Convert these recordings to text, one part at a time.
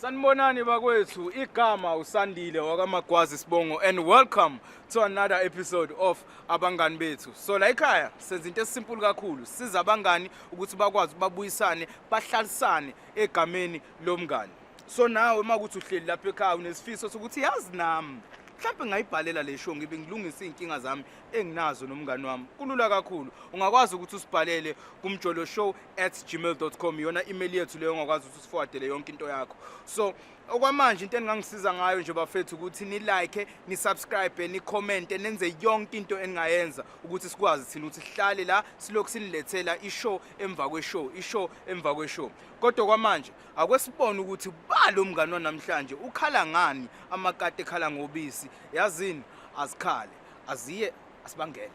Sanibonani bakwethu, igama uSandile wakaMagwazi Sibongo and welcome to another episode of Abangani Bethu. So la ekhaya senza into esisimple kakhulu, siza abangani ukuthi bakwazi babuyisane, bahlalisane egameni lomngani. So nawe uma kuthi uhleli lapha ekhaya unesifiso sokuthi yazi nami mhlawumbe ngayibhalela le show ngibe ngilungisa izinkinga zami enginazo nomngani wami kulula kakhulu ungakwazi ukuthi usibhalele kumjolo show at gmail com iyona email yethu leyo ongakwazi ukuthi usifowadele yonke into yakho so okwamanje into eningangisiza ngayo nje bafethu ukuthi nilike nisubscribe nikhomente nenze yonke into eningayenza ukuthi sikwazi thina ukuthi sihlale la silokhu sinilethela ishow emva kweshow ishow emva kweshow kodwa kwamanje akwesibona ukuthi balo mngani wanamhlanje ukhala ngani amakati ekhala ngobisi yazini azikhale aziye asibangele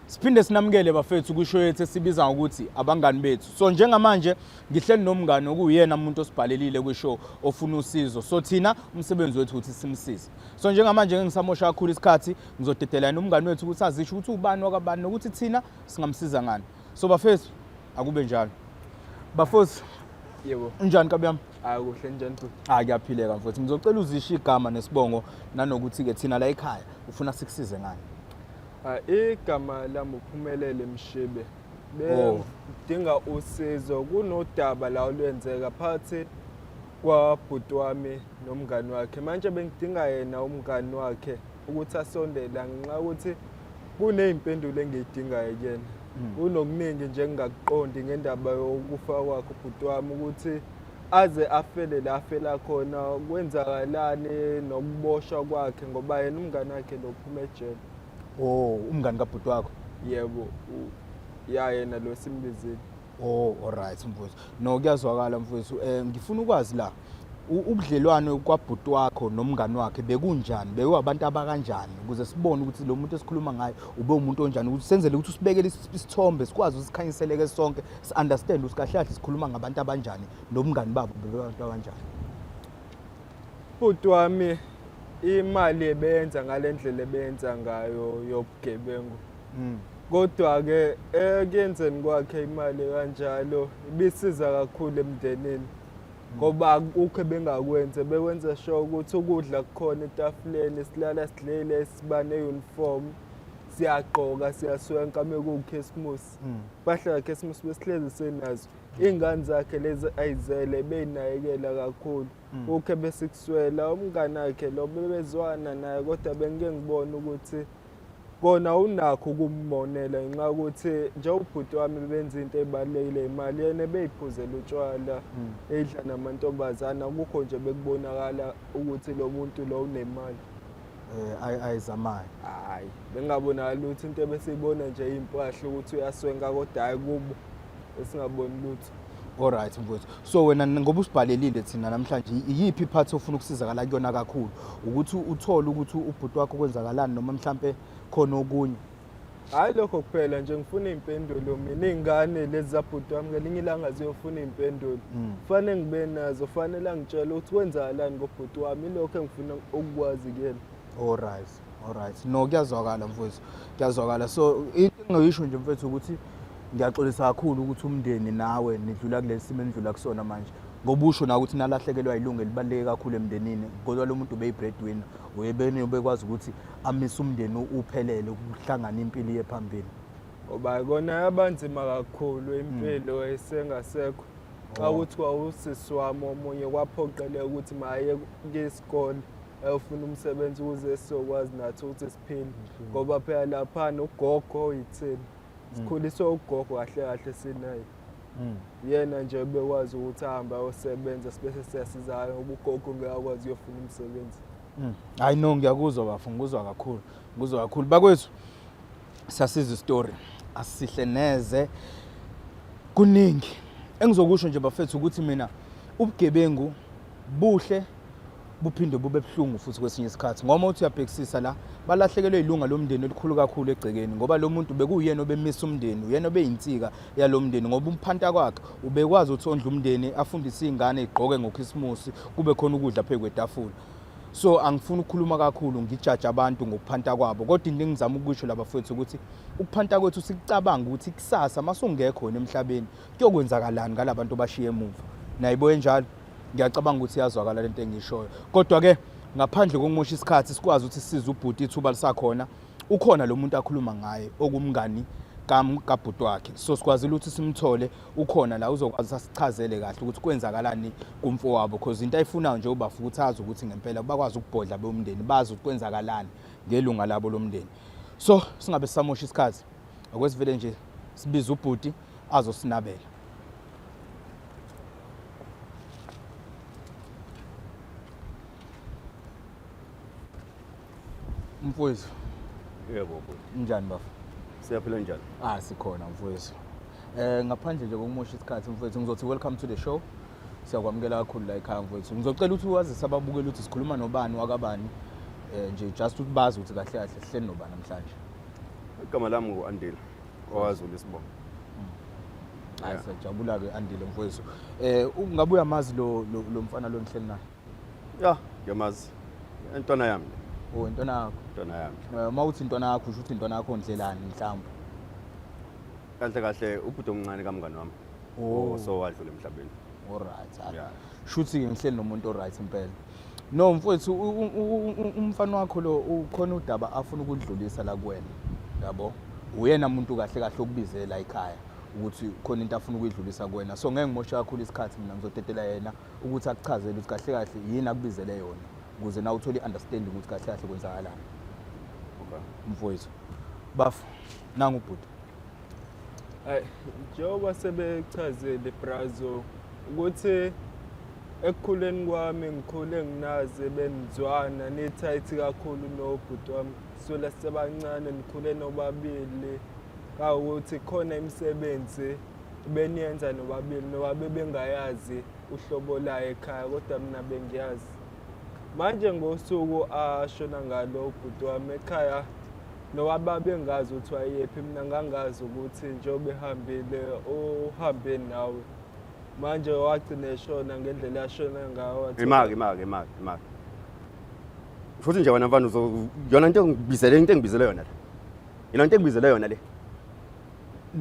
siphinde sinamukele bafethu kusho yethu esibiza ukuthi abangani bethu so njengamanje ngihleli nomngani okuyena umuntu osibhalelile kwishow ofuna usizo so thina umsebenzi wethu ukuthi simsize so njengamanje ngingisamosha kakhulu isikhathi ngizodedela yena umngani wethu ukuthi azisho ukuthi ubani wakabani nokuthi thina singamsiza ngani so bafethu akube njalo bafethu yebo unjani kabi yami hayi kuhle njani futhi hayi kuyaphileka mfowethu ngizocela uzisho igama nesibongo nanokuthi-ke thina la ekhaya ufuna sikusize ngani Ah, igama lami uphumelele mshibe Oh. bengidinga usizo kunodaba la olwenzeka phakathi kwabhuti wami nomngani wakhe manje bengidinga yena umngani wakhe ukuthi asondele ngenxa yokuthi kuney'mpendulo engiyidingayo kuyena hmm. kunokuningi nje engingakuqondi ngendaba yokufa kwakhe ubhuti wami ukuthi aze afele la afela khona kwenzakalani nokuboshwa kwakhe ngoba yena umngani wakhe lo phuma ejele o oh, umngani kabhuti wakho yebo ya yena lo simbizile Oh alright mfowethu. No kuyazwakala mfowethu. Eh ngifuna ukwazi la ubudlelwane kwabhuti wakho nomngani wakhe bekunjani bewabantu abakanjani ukuze sibone ukuthi lo muntu esikhuluma ngayo ube umuntu onjani ukuthi senzele ukuthi usibekele isithombe sikwazi usikhanyiseleke sonke si understand ukuthi kahle kahle sikhuluma ngabantu abanjani nomngani babo bebantu abanjani bhuti wami imali ebenza ngalendlela ebenza ngayo yobugebengu mm. kodwa-ke ekuyenzeni kwakhe imali kanjalo ibisiza kakhulu emndenini mm. ngoba akukho ebengakwenze bekwenza sho ukuthi ukudla kukhona etafuleni silala sidlile siba ne-uniform siyagqoka siyaswenka mekuwukhisimusi mm. impahla kakhisimusi besihlezi senazo iy'ngane zakhe lezi ayizele beyinakekela kakhulu mm. ukhe besikuswela umngane akhe lo bebezwana naye kodwa bengike ngibone ukuthi kona unakho ukumonela ngenxa yokuthi njengobhuti wami benza into ebalulekile imali yena beyiphuzela utshwala hmm. edla namantombazane akukho nje bekubonakala ukuthi lo muntu lo unemali eh, ayizamayo hayi bengabonakali ukuthi into ebesiyibona nje iyimpahla ukuthi uyaswenka kodwa hayi kubo esingaboni lutho Alright mfowethu. So wena ngoba usibhalelile thina namhlanje iyiphi part ofuna ukusizakala kuyona kakhulu ukuthi uthole ukuthi ubhuti wakho kwenzakalani noma mhlambe khona okunye. Hayi lokho kuphela nje ngifuna impendulo mina ingane lezi zabhuti wami ngelinye ilanga ziyofuna impendulo. Hmm. Fanele ngibe nazo, fanele angitshele ukuthi kwenzakalani ngobhuti wami lokho engifuna ukukwazi kuyena. Alright. Alright. No kuyazwakala mfowethu. Kuyazwakala. So into engingaysho nje mfowethu ukuthi ngiyaxolisa kakhulu ukuthi umndeni nawe nidlula kulesi simo enidlula kusona manje. Ngoba usho na ukuthi nalahlekelwa ilungu elibaluleke kakhulu emndenini. Kodwa lo muntu ubeyi breadwinner. Uyebeni ubekwazi ukuthi amise umndeni uphelele ukuhlangana impilo iye phambili. Oba kona yabanzima kakhulu impilo esengasekho. Xa kuthiwa usisi wami omunye kwaphoqeleka ukuthi maye isikole. ayofuna umsebenzi ukuze sizokwazi nathi ukuthi siphile mhm. ngoba phela lapha nogogo oyithini mhm. sikhuliswe ugogo kahle kahle sinaye mhm. yena nje bekwazi ukuthi ahambe ayosebenza sibese siyasizana ngoba ugogo ngeke akwazi uyofuna umsebenzi hayi no ngiyakuzwa bafo ngikuzwa kakhulu ngikuzwa kakhulu bakwethu siyasiza isitori asihle neze kuningi engizokusho nje bafethu ukuthi mina ubugebengu buhle buphinde bube buhlungu futhi kwesinye isikhathi ngoba uthi uyabhekisisa la balahlekelwe ilunga lomndeni elikhulu kakhulu egcekeni ngoba lo muntu bekuyena obemisa umndeni uyena obeyinsika yalo mndeni ngoba umphanta kwakhe ubekwazi ukuthi ondla umndeni afundise iy'ngane igqoke ngokhisimusi kube khona ukudla phezu kwetafula so angifuni ukukhuluma kakhulu ngijaje abantu ngokuphanta kwabo kodwa into engizama ukusho labafowethu ukuthi ukuphanta kwethu sikucabanga ukuthi kusasa masungekho wena emhlabeni kuyokwenzakalani ngalabantu obashiye emuva nayibo enjalo ngiyacabanga ukuthi iyazwakala lento engishoyo kodwa ke ngaphandle kokumosha isikhathi sikwazi ukuthi size ubhuti ithuba lisakhona ukhona lo muntu akhuluma ngaye okumngani kabhuti wakhe so sikwazile ukuthi simthole ukhona la uzokwazi asichazele kahle ukuthi kwenzakalani kumfowabo because into ayifunayo nje ubafu ukuthi azi ukuthi ngempela bakwazi ukubhodla bomndeni bazi ukuthi kwenzakalani ngelunga labo lomndeni so singabe sisamosha isikhathi okwesivele nje sibiza ubhuti azosinabela. Mfowethu. Yebo bhuti. Njani bafo? Siyaphila njani? Ah sikhona mfowethu. Eh ngaphandle nje kokumosha isikhathi mfowethu ngizothi welcome to the show. Siyakwamukela kakhulu la ekhaya mfowethu. Ngizocela ukuthi wazise ababukeli ukuthi sikhuluma nobani wakabani. Eh nje just ukuthi bazi ukuthi kahle kahle sihleli nobani namhlanje. Igama lami ngu-Andile. kwaZulu isibongo hayi siyajabula ke andile mfowethu eh ungabe uyamazi lo lo- lo mfana lo nihleli naye ya ngiyamazi intwana yami le, o intwana yakho intwana yami Eh, uma uthi intwana yakho usho ukuthi intwana yakho ndlelani mhlawumbe kahle kahle ubhuti omncane kamngani wami Oh. so wadlula emhlabeni alright Yeah. shuthi-ke ngihleli nomuntu oright impela No mfowethu umfana wakho lo ukhona udaba afuna ukudlulisa la kuwena. Yabo? Uyena muntu kahle kahle okubize la ekhaya ukuthi khona into afuna ukuyidlulisa kuwena. So ngeke ngimoshe kakhulu isikhathi mina ngizodedela yena ukuthi akuchazele ukuthi kahle kahle yini akubizele yona ukuze na uthole i-understanding ukuthi kahle kahle kwenzakalani. Okay. Mfowethu. Bafo nangu ubhuti. Ay njengoba sebechazile brazo ukuthi ekukhuleni kwami ngikhule nginazi benizwana nithayithi kakhulu nobhuti wami sula sebancane nikhule nobabili kawukuthi khona imisebenzi beniyenza nobabili noba bebengayazi uhlobo layo ekhaya kodwa mina bengiyazi Manje ngosuku ashona ngalo ubhuti wami ekhaya nowaba bengazi ukuthi wayephi mina ngangazi ukuthi njengoba ehambile uhambe nawe manje wagcina eshona ngendlela ashona ngayo wathi- imake imake imake imake futhi nje wena mfana uzo- yona into engibizele into engibizele yona le yona into engibizele yona le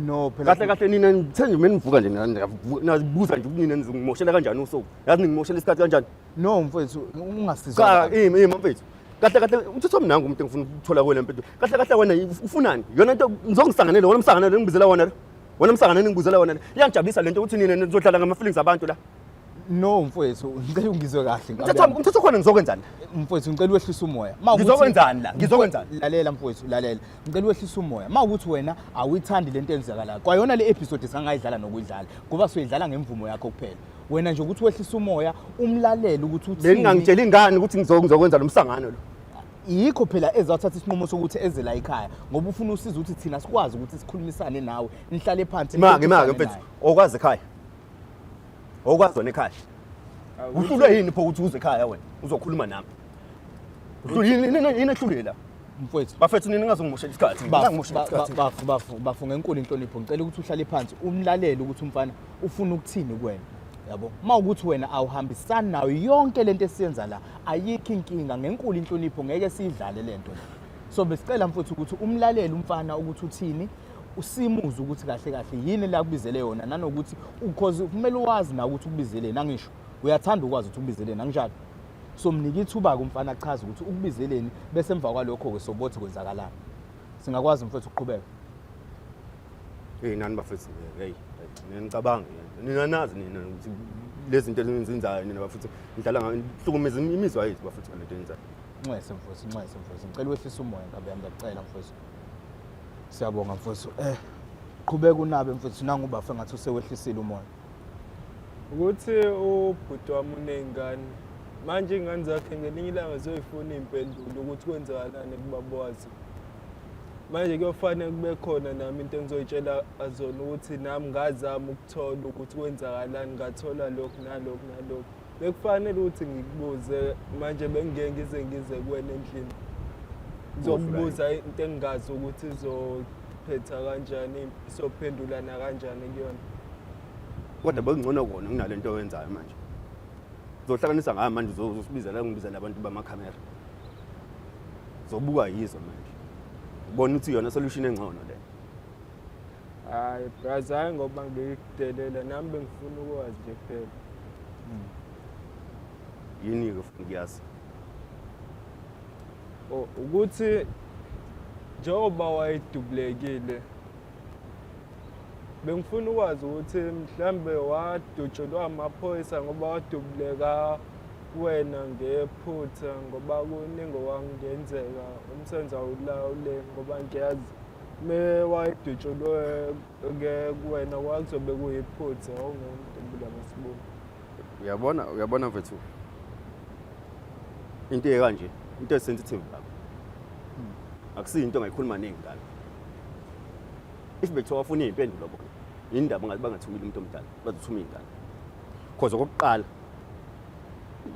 no phela kahle kahle nina ngithe nje uma nivuka nje nina- niyavuka- niyazibuza nje ukuthi nina nizingimoshela kanjani usuku yazi ningimoshela isikhathi kanjani No mfethu ungasiza. Cha yimi yimi mfethu. Kahle kahle uthotho mina ngumntu engifuna ukuthola kuwe lempilo. Kahle kahle wena ufunani? Yona into ngizongisanganele wena umsanganele ngibizela wona. Wena umsanganele ngibizela wona. Iyangijabulisa lento ukuthi nina nizodlala ngama feelings abantu la. No mfethu ngicela ungizwe kahle. Umthetho umthetho khona ngizokwenzani? Mfethu ngicela wehlisa umoya. Ngizokwenzani la? Ngizokwenzani? Lalela mfethu lalela. Ngicela wehlisa umoya. Uma ukuthi wena awuyithandi lento enzakalayo. Kwayona le episode singangayidlala nokuyidlala. Ngoba soyidlala ngemvumo yakho kuphela. wena nje ukuthi wehlisa umoya umlalele ukuthi uthini bengingangitshela ingane ukuthi ngizokwenza lomsangano lo yikho phela ezathatha isinqumo sokuthi eze la ekhaya ngoba ufuna usiza ukuthi thina sikwazi ukuthi sikhulumisane nawe nihlale phansi make make mfethu okwazi ekhaya okwazi wena ekhaya uhlulwe yini pho ukuthi uze ekhaya wena uzokhuluma nami uhlulwe yini yini ehlulwe la mfowethu bafethu nini ngazongimoshela isikhathi ngangimoshela isikhathi bafu bafu bafu ngenkulu inhlonipho ngicela ukuthi uhlale phansi umlalele ukuthi umfana ufuna ukuthini kuwena yabo uma ukuthi wena awuhambisani nayo yonke lento esiyenza la ayikho inkinga ngenkulu inhlonipho ngeke siyidlale lento so besicela mfuthu ukuthi umlalele umfana ukuthi uthini usimuze ukuthi kahle kahle yini la kubizele yona nanokuthi because kumele uwazi na ukuthi ukubizele nangisho uyathanda ukwazi ukuthi ukubizele nanginjalo so mnike ithuba kumfana achaze ukuthi ukubizeleni bese emva kwalokho ke sobothi kwenzakalani singakwazi mfethu ukuqhubeka Hey nani bafethu hey nginicabanga nina nazi nina ukuthi lezi zinto ezenzayo nina bafethu ngidlala ngihlukumeza imizwa yethu bafethu ngale nto yenzayo. Nxese mfowethu nxese mfowethu ngicela wehlisa umoya ngabe yami ngiyacela mfowethu. Siyabonga mfowethu eh qhubeka unabe mfowethu nangu bafa ngathi usewehlisile umoya. Ukuthi ubhuti wami uney'ngane manje iy'ngane zakhe ngelinye ilanga ziyoyifuna iy'mpendulo ukuthi kwenzakalani kubabowazi manje kuyofanele kube khona nami into engizoyitshela azona ukuthi nami ngazama ukuthola ukuthi kwenzakalani ngathola lokhu nalokhu nalokhu bekufanele ukuthi ngikubuze manje bengingeke ngize ngize kuwena endlini ngizokubuza into engingazi ukuthi izophetha kanjani sophendulana kanjani kuyona kodwa bekungcono kona kunale nto oyenzayo manje uzohlanganisa ngayo manje uzosibizela ngibizela abantu bamakhamera zobukwa yizo manje ubona ukuthi yona solution engcono le hayi braza hayi ngoba ngikudelela nami bengifuna ukwazi nje kuphela yini-ke futhi ngiyazi Oh, ukuthi njengoba wayedubulekile bengifuna ukwazi ukuthi mhlambe wadutshelwa amaphoyisa ngoba wadubuleka kuwena ngephutha ngoba kuningi owangenzeka umsebenzi awulawule ngoba ngiyazi me wayedutshulwe ke kuwena kwakuzobe kuyiphutha awungumuntu mbula masibuni uyabona uyabona mfethu into ekanje into esensitive lapha akusiyo into ongayikhuluma ningi ngalo if bekuthiwa wafuna iy'mpendulo bona yini ndaba ngathi bangathumile umuntu omdala bazothuma iy'ngane cause okokuqala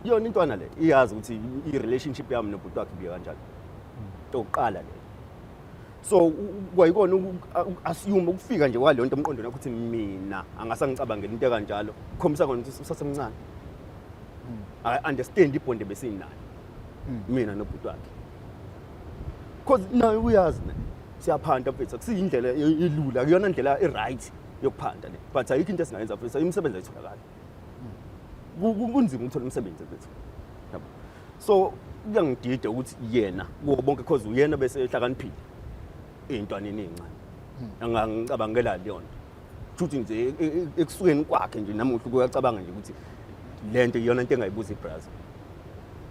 yona intwana le iyazi ukuthi i-relationship yami nobhuti wakhe ibiye kanjani into yokuqala le so kwayikona uku-assume ukufika nje kwaleyo nto emqondweni wakho ukuthi mina angase angicabangela into ekanjalo kukhombisa kona ukuthi usasemncane akayi-understand ibhondi ebesinayo mina nobhuti wakhe cause naye uyazi ne siyaphanta mfethu akusiyindlela elula kuyona ndlela e-right yokuphanda le but ayikho into esingayenza futhi imisebenzi ayitholakali kunzima ukuthola umsebenzi bethu yabo so kuyangidida ukuthi yena kuwo bonke because uyena bese ehlakaniphile intwana eninqane hmm. angangicabangela leyo nto futhi nje e, e, e, ekusukeni kwakhe nje namuhla kuyacabanga nje ukuthi le nto iyona nto engayibuza ibrazil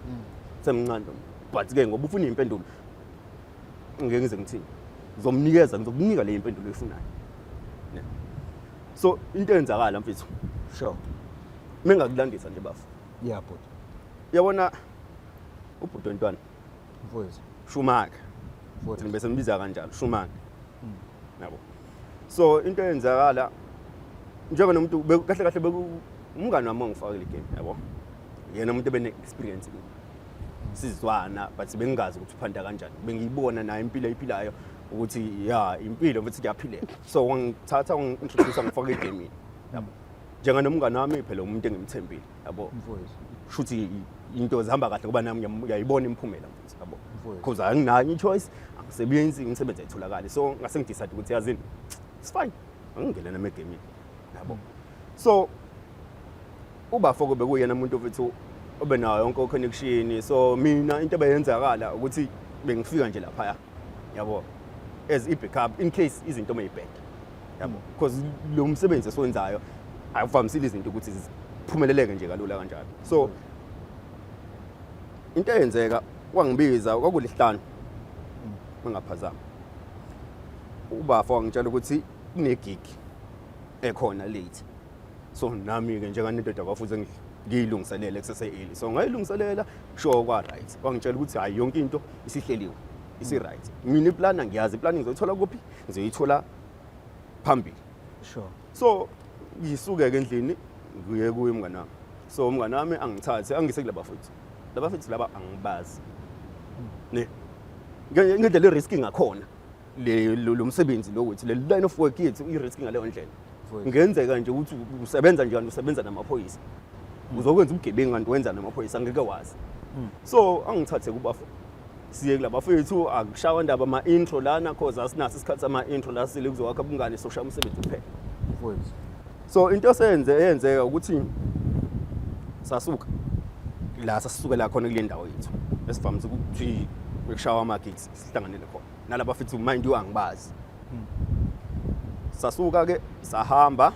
hmm. semncane but ke ngoba ufuna impendulo ngeke ngize ngithini ngizomnikeza ngizokunika le impendulo efunayo so into eyenzakala mfethu sure mina ngakulandisa nje bafo yeah bhuti yabona ubhuti wentwana mfowethu shumaka futhi bese mbiza kanjalo shumaka hmm. yabo so into eyenzakala njengoba nomuntu kahle kahle umngane wami ongifakile igame yabo yena umuntu ebene experience kimi sizwana but bengingazi ukuthi uphanda kanjani bengiyibona naye impilo ayiphilayo ukuthi ya impilo futhi kuyaphileka so wangithatha wangi-introduce ngifake egemini yabo njenga nomngane wami phela umuntu engimthembile yabo shuthi into zihamba kahle ngoba nami ngiyayibona imiphumela mfethu yabo because anginayo i-choice angisebenzi imisebenzi ayitholakali so ngase ngidecide ukuthi yazini it's fine angingene nami egemini yabo so Ubafo kube kuyena umuntu ofithi obe nayo yonke connection so mina into ebeyenzakala ukuthi bengifika nje lapha yabo as i backup in case izinto mayibheke yabo mm. because lo msebenzi esiwenzayo awuvamisile izinto ukuthi ziphumeleleke nje kalula kanjalo so mm. into eyenzeka wangibiza kwakulihlanu mm. mangaphazama ubafo wangitshela ukuthi kunegig ekhona late so nami-ke njenganendoda kwafuze ngiyilungiselele kusese-eli so ngayilungiselela sure kwa-right wangitshela ukuthi hhayi yonke into isihleliwe isi-right mina iplana ngiyazi iplani ngizoyithola kuphi ngizoyithola phambili sure so ngisuke-ke endlini ngiye kuye umngane wami so umngane wami angithathe angise kulaba futhi laba futhi laba angibazi ne ngendlela i-risk ngakhona le lo msebenzi lo wethu le line of work yethu i-risk ngaleyo ndlela ngenzeka nje ukuthi usebenza njani usebenza namaphoyisa hmm. uzokwenza ubugebengu kanti wenza namaphoyisa ngeke wazi hmm. so angithathe kubafo siye kulabafethu akushawa ndaba ama-intro lana cause asinaso isikhathi sama-intro la sile kuzokwakha ubungane soshaya umsebenzi kuphela so into esenze eyenzeka ukuthi sasuka la sasisukela khona kule ndawo yethu esivamise ukuthi bekushawa ama-gigs sihlanganele khona nalaba fethu mind you angibazi hmm. sasuka ke sahamba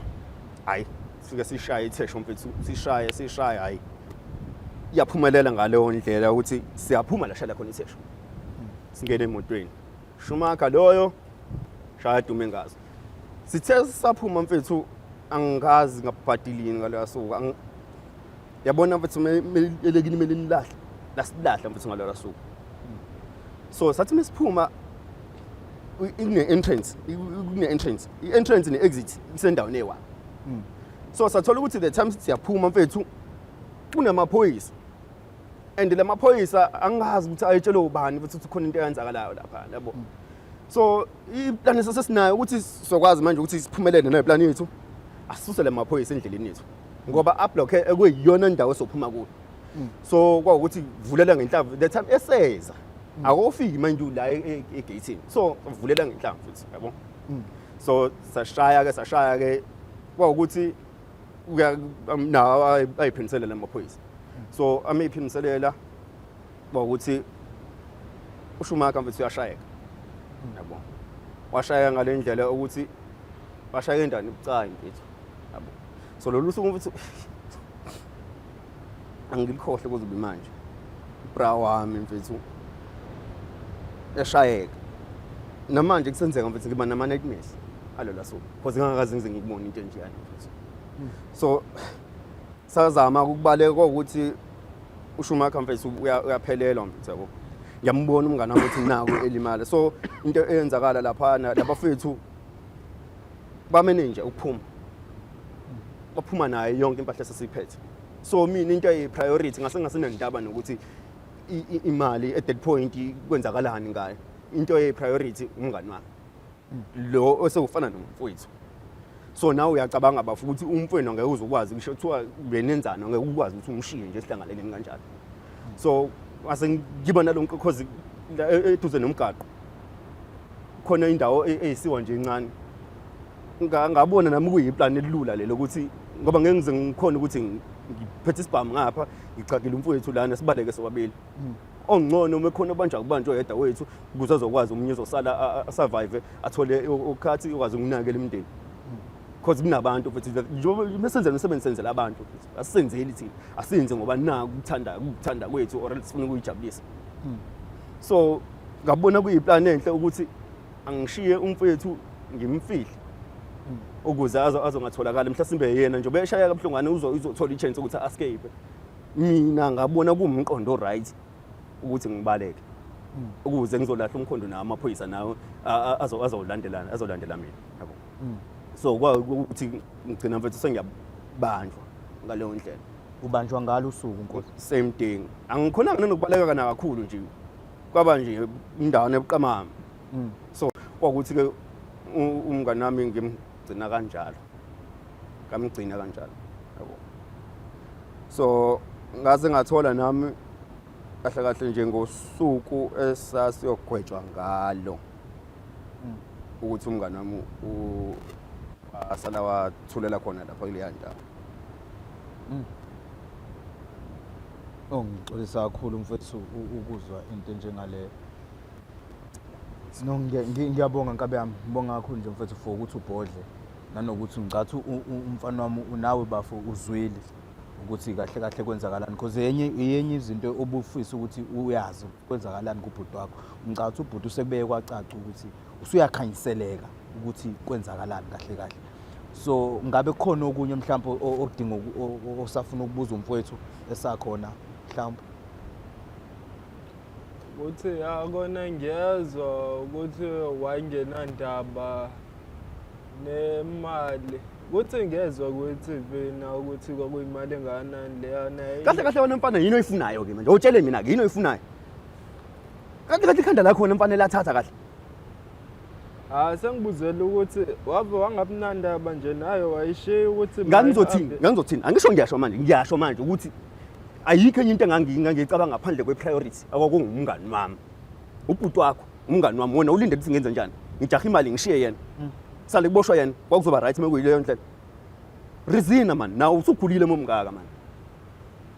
hayi sike sishaye ithesho mfethu sishaye sishaye hayi iyaphumelela ngaleyo ndlela ukuthi siyaphuma la shala khona ithesho hmm. singene emotweni shumaka loyo shaya dume ngazo sithe saphuma mfethu angikazi ngabhadilini ngaleyo suku yabona mfethu melekini mele nilahle lasilahla mfethu ngalolo suku so sathi mesiphuma ikune entrance ikune entrance i entrance ne exit isendaweni ewa hmm. so sathola ukuthi the time siyaphuma mfethu kunamaphoyisa and lamaphoyisa angazi ukuthi ayetshelwe ubani futhi ukuthi khona into eyenzakalayo lapha yabo hmm. so iplan esesinayo ukuthi sizokwazi manje ukuthi siphumelele neplan yethu asisuse lamaphoyisa endleleni yethu ngoba ablockhe ekuyiyona indawo esophuma kuyo mm. so kwawukuthi vulela ngenhlamvu the time eseza mm. akofiki manje la e, e, egatini so vulela ngenhlamvu futhi yabo mm. so sashaya ke sashaya ke kwawukuthi um, nawo ayiphiniselela amaphoyisa so ameyiphiniselela kwawukuthi ushumaka mfethu uyashayeka yabo washayeka ngale ndlela ukuthi washayeka endani bucayi mfethu so lolu suku futhi angilikhohle kuze ube manje ibra wami mfethu yashayeka namanje kusenzeka mfethu ngiba nama nightmares alola suku because ngingakaze ngize ngikubone into enjeyani mfethu so Sazama ukubaleka ukuthi uSchumacher mfethu uyaphelelwa mfethu yabo. Ngiyambona umngane wami ukuthi nawo elimala. So into eyenzakala lapha labafethu bamene nje ukuphuma. Baphuma naye yonke impahla esesiphethe. So mina into eyi priority ngase ngasenandaba nokuthi imali at that point kwenzakalani ngayo. Into eyi priority umngane wami. lo osewufana nomfowethu so nawe uyacabanga bafu ukuthi umfwenu angeke uzokwazi kusho kuthiwa benenzani angeke ukwazi ukuthi umshiye nje sihlangaleleni kanjalo so ase ngiba nalonke cause e, eduze nomgaqo khona indawo e, eyisiwa nje incane ngabona nami kuyiplan elula lelo ukuthi ngoba ngeke ngize ngikhona ukuthi ngiphethe isibhamu ngapha ngicakile umfowethu lana sibaleke sobabili mm. ongcono uma khona obanja kubanjwa yedwa wethu ukuze azokwazi umunye uzosala survive athole ukhathi ukwazi ukunakela imndeni because kunabantu futhi njengoba senze umsebenzi senzela abantu asisenzeli thina asenze ngoba naku kuthanda kuthanda kwethu or sifuna ukuyijabulisa hmm. so ngabona kuyiplan enhle ukuthi angishiye umfethu ngimfihle hmm. ukuze azongatholakala mhlasimbe yena njengoba eshaya kabuhlungane uzothola ichance ukuthi a-escape mina ngabona kuwumqondo right ukuthi ngibaleke mm. ukuze ngizolahla umkhondo nawo amaphoyisa nawo azolandelana azolandela mina yabo mm. so ukuthi ngigcina mfethu sengiyabanjwa ngaleyo ndlela ubanjwa ngalo usuku nkosi same thing angikhonanga nanokubaleka kana kakhulu nje kwaba nje indawana ebuqamama mm. so kwakuthi ke umngane wami gcina kanjalo kamgcina kanjalo yabo so ngaze ngathola nami kahle kahle nje ngosuku esasiyogwetshwa ngalo hmm. ukuthi umngane wami asala wathulela khona lapha kuleya ndawo hmm. ongixolisa oh, kakhulu mfethu ukuzwa into enjengaleyo No, ngiya- ngi- ngiyabonga nkabe yami ngibonga kakhulu nje mfethu for ukuthi ubhodle nanokuthi ngicathi u- u- umfana wami unawe bafo uzwile ukuthi kahle kahle kwenzakalani because yenye yenye izinto obufisa ukuthi uyazi kwenzakalani kubhuti wakho ngicabanga ukuthi ubhuti usekubeye kwacaca ukuthi usuyakhanyiseleka ukuthi kwenzakalani kahle kahle so ngabe kukhona okunye mhlawumbe o- okudinga uku- o- o- osafuna ukubuza umfowethu esakhona mhlawumbe ukuthi akona ngiyezwa ukuthi wayengenandaba nemali kuthi ngezwe kwe-TV na ukuthi kwakuyimali engakanani leyana kahle kahle wena mfana yini oyifunayo ke manje utshele mina ke yini oyifunayo kahle kahle ikhanda lakhona mfana elathatha kahle Hayi sengibuzela ukuthi wave wangabunandaba nje naye wayishiya ukuthi ngangizothini ngangizothini angisho ngiyasho manje ngiyasho manje ukuthi ayikho enye into engangiyicabanga ngaphandle kwe-priority akwakungumngani wami ubhuti wakho umngani wami wona ulinde ukuthi ngenze njani ngijaha imali ngishiye yena mm. sale kuboshwa yena kwakuzoba right uma kuyileyo ndlela rizina mani nawe usukhulile momngaka mani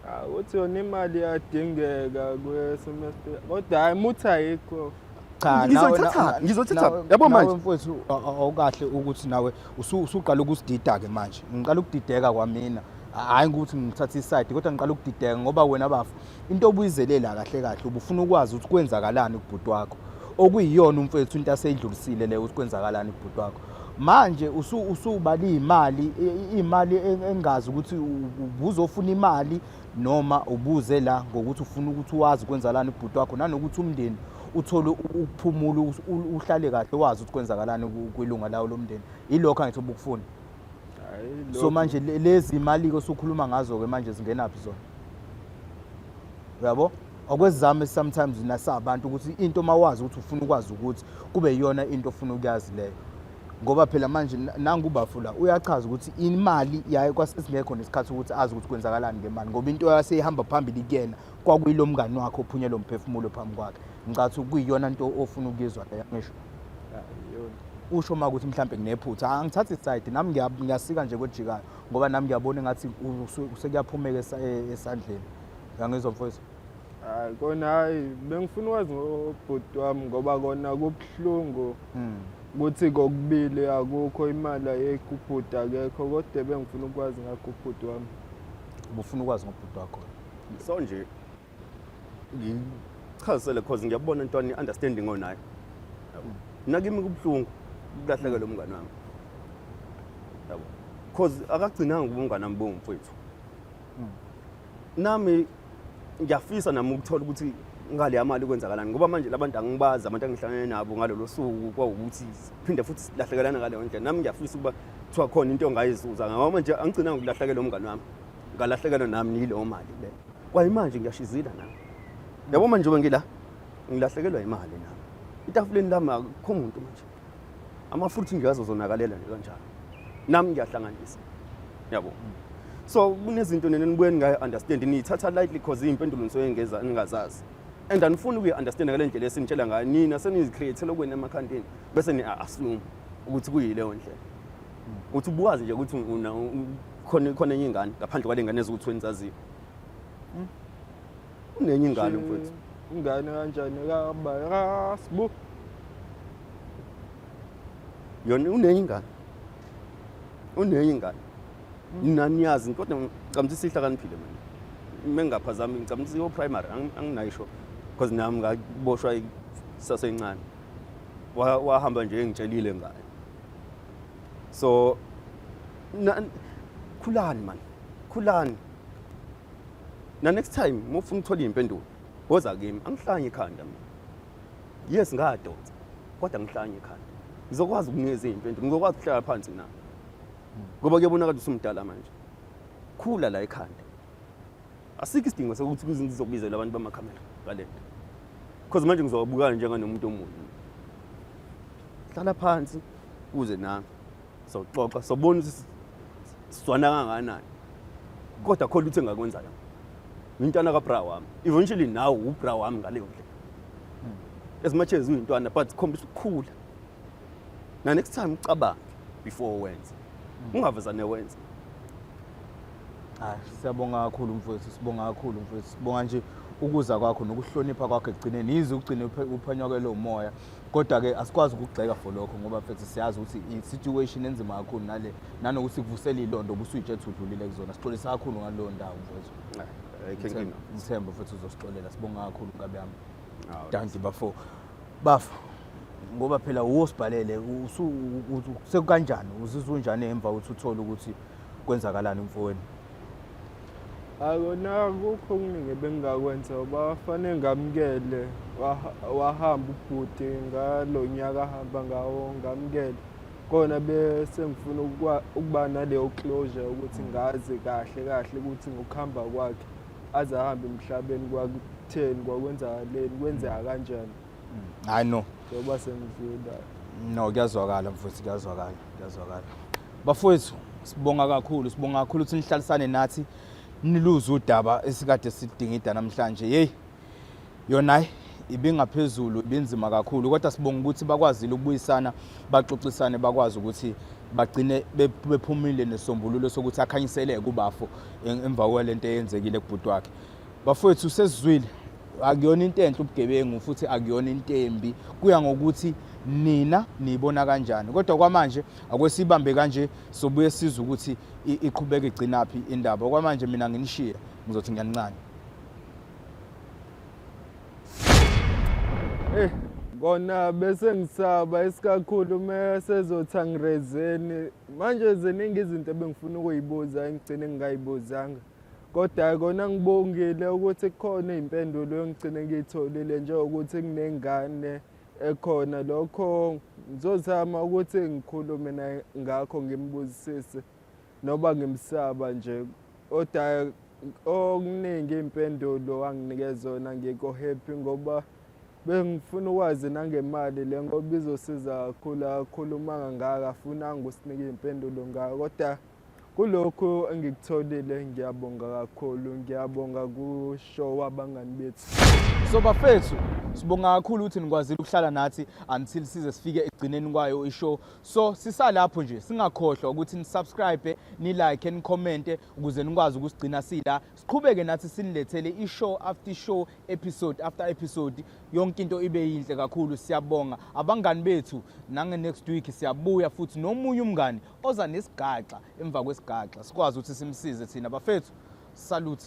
Ah, uthi yona imali iyadingeka kwesemester kodwa hayi muthi ayikho cha Ngizothatha, ngizothatha. nawe- Yabo nawe manje. mfowethu a- a- awukahle ukuthi nawe usu- usuqala ukusidida-ke manje ngiqala ukudideka kwamina Ha- hhayi ukuthi ngithathe isayidi kodwa ngiqala ukudideka ngoba wena bafo into obuyizelela kahle kahle ubufuna ukwazi ukuthi kwenzakalani kubhuti wakho okuyiyona umfowethu into aseyidlulisile leyo ukuthi kwenzakalani kubhuti wakho manje usuba liyimali imali engazi ukuthi ubuzofuna imali noma ubuze la ngokuthi ufuna ukuthi wazi kwenzakalani kubhuti wakho nanokuthi umndeni uthole ukuphumula uhlale kahle wazi ukuthi kwenzakalani kwilunga lawo lomndeni ilokho angithi ubukufuna so manje lezi imali-ke osukhuluma ngazo-ke manje zingenaphi zona uyabo okwezami sometimes nasabantu ukuthi into mawazi ukuthi ufuna ukwazi ukuthi kube yiyona into ofuna ukuyazi leyo ngoba phela manje nangu ubafula uyachaza ukuthi imali yaye kwasesingekho nesikhathi ukuthi azi ukuthi kwenzakalani ngemali ngoba into yaseyihamba phambili kuyena kwakuyilo mngani wakhe ophunye lo mphefumulo phambi kwakhe ngicathi kuyiyona nto ofuna ukuyizwa leyo ngisho usho uma ukuthi mhlawumbe nginephutha angithathi isayidi nami ngiyasika nje kwejikayo ngoba nami ngiyabona engathi sekuyaphumeka e-, esandleni yangizwa mfowethu hayi kona hayi bengifuna ukwazi ngobhuti wami ngoba kona kubuhlungu mm. ukuthi kokubili akukho imali ayekho ubhuti akekho kodwa bengifuna ukwazi ngakho ubhuti wami ubufuna ukwazi ngobhuti wakho so nje ngichazisele cause ngiyabona into ani understanding onayo yabo nakimi kubuhlungu ukulahlekela umngane wami yabo cause akagcinanga ubungane wami bongumfowethu hmm. nami ngiyafisa nami ukuthola ukuthi ngale mali kwenzakalani ngoba manje labantu angibazi abantu angihlangene nabo ngalolo suku kwawukuthi phinde futhi silahlekelana ngaleyo ndlela nami ngiyafisa ukuba kuthiwa khona into ongayizuza ngoba manje angigcina ngokulahlekela umngane wami ngalahlekelwa nami niyileyo mali le kwayimanje ngiyashizila nami yabo manje ube ngila ngilahlekelwa imali nami itafuleni lami akukho muntu manje amafruit nje azozonakalela nje kanjalo nami ngiyahlanganisa yabo so kunezinto nene nibuye ningayi-understand niyithatha lightly cause iy'mpendulo nisuke ngeza ningazazi and anifuni ukuyi-understand ngale ndlela esinitshela ngayo nina senizikhriyethela okwenu emakhandeni bese ni-assume ukuthi kuyileyo ndlela ukuthi ubuwazi nje ukuthi khona enye ingane ngaphandle kwale ngane eziwu-twenty zaziyo unenye ingane mfowethu ingane kanjani kabarasbu yona unenye ingane unenye ingane naniyazi hmm. kodwa ngicabanga ukuthi sihlakaniphile mina mengaphazami ngicabanga ukuthi yo-primary anginayisho because nami ngaboshwa sasencane wahamba nje engitshelile ngayo so khulani mani khulani na next time uma ufuna ukuthola iy'mpendulo woza kimi angihlanye ikhanda mina yes ngadonsa kodwa ngihlanye ikhanda ngizokwazi ukunikeza iy'mpendulo ngizokwazi ukuhlala phansi na ngoba kuyabonakala ukuthi umdala manje khula la ekhanda asikho isidingo sokuthi kuze ngizobizela abantu bamakhamera ngale nto because manje ngizobukana njenganomuntu omunye hlala phansi kuze nami soxoxa sobona ukuthi sizwana kangakanani kodwa khona ukuthi engakwenza yona ngintwana kabra wami eventually nawe ubra wami ngaleyo ndlela hmm. as much as uyintwana but khombisa ukukhula na next time ucabange before wenze hmm. ungavezane wenze hayi siyabonga kakhulu mfowethu sibonga kakhulu mfowethu sibonga nje ukuza kwakho nokuhlonipha kwakho ekugcineni yize ugcine uphanywa kwelowo moya kodwa ke asikwazi ukugxeka for lokho ngoba mfethu siyazi ukuthi i-situation enzima kakhulu nale nanokuthi kuvusela ilondo kusuyitshe ethi udlulile kuzona sixolisa kakhulu ngaleyo ndawo mfethu ngithemba futhi uzosixolela sibonga kakhulu ngabe yami danti bafo bafa ngoba phela wuwo sibhalele sekukanjani uzizwa unjani emva ukuthi uthole ukuthi kwenzakalani mfowenu akona kukho okuningi ebengingakwenza uba wafanele ngamukele wahamba ubhuti ngalo nyaka ahamba ngawo ngamukele kona bese ngifuna ukuba naleyo closure ukuthi ngazi kahle kahle ukuthi ngokuhamba kwakhe aze ahambe emhlabeni kwakutheni kwakwenzakaleni kwenzeka kanjani hayi no njengoba sengifunda no kuyazwakala mfowethu kuyazwakala kuyazwakala bafowethu sibonga kakhulu sibonga kakhulu ukuthi nihlalisane nathi niluze udaba esikade sidingida namhlanje yeyi yona ibingaphezulu ibinzima kakhulu kodwa sibonga ukuthi bakwazile ukubuyisana baxoxisane bakwazi ukuthi bagcine bephumile nesombululo sokuthi akhanyiseleke ubafo emva kwalento eyenzekile kubhuti wakhe Bafowethu sesizwile akuyona into enhle ubugebengu futhi akuyona into embi kuya ngokuthi nina niyibona kanjani kodwa kwamanje akwesibambe kanje sobuye siza ukuthi iqhubeke igcinaphi indaba kwamanje mina nginishiye ngizothi ngiyanincane Eh kona bese ngisaba isikakhulu mesezothi angirezeni manje ziningi izinto ebengifuna ukuyibuza engigcine ngingayibuzanga Kodwa kona ngibongile ukuthi kukhona izimpendulo engigcine ngiyitholile njengokuthi kunengane ekhona lokho ngizozama ukuthi ngikhulume naye ngakho ngimbuzisise noba ngimsaba nje kodwa okuningi impendulo anginikeza yona ngikho happy ngoba bengifuna ukwazi nangemali le ngoba izosiza kakhulu akakhulumanga ngaka afunanga usinike iy'mpendulo ngayo kodwa Kulokhu engikutholile ngiyabonga kakhulu, ngiyabonga kusho wabangani bethu. So bafethu sibonga kakhulu ukuthi nikwazile ukuhlala nathi until size sifike ekugcineni kwayo ishow. So sisalapho nje singakhohlwa ukuthi nisubscribe, nilike, nicommente ukuze nikwazi ukusigcina sila. Siqhubeke nathi sinilethele ishow after show, episode after episode. Yonke into ibe yinhle kakhulu. Siyabonga abangani bethu nange next week siyabuya futhi nomunye umngani oza nesigaxa emva kwesigaxa sikwazi ukuthi simsize thina bafethu salute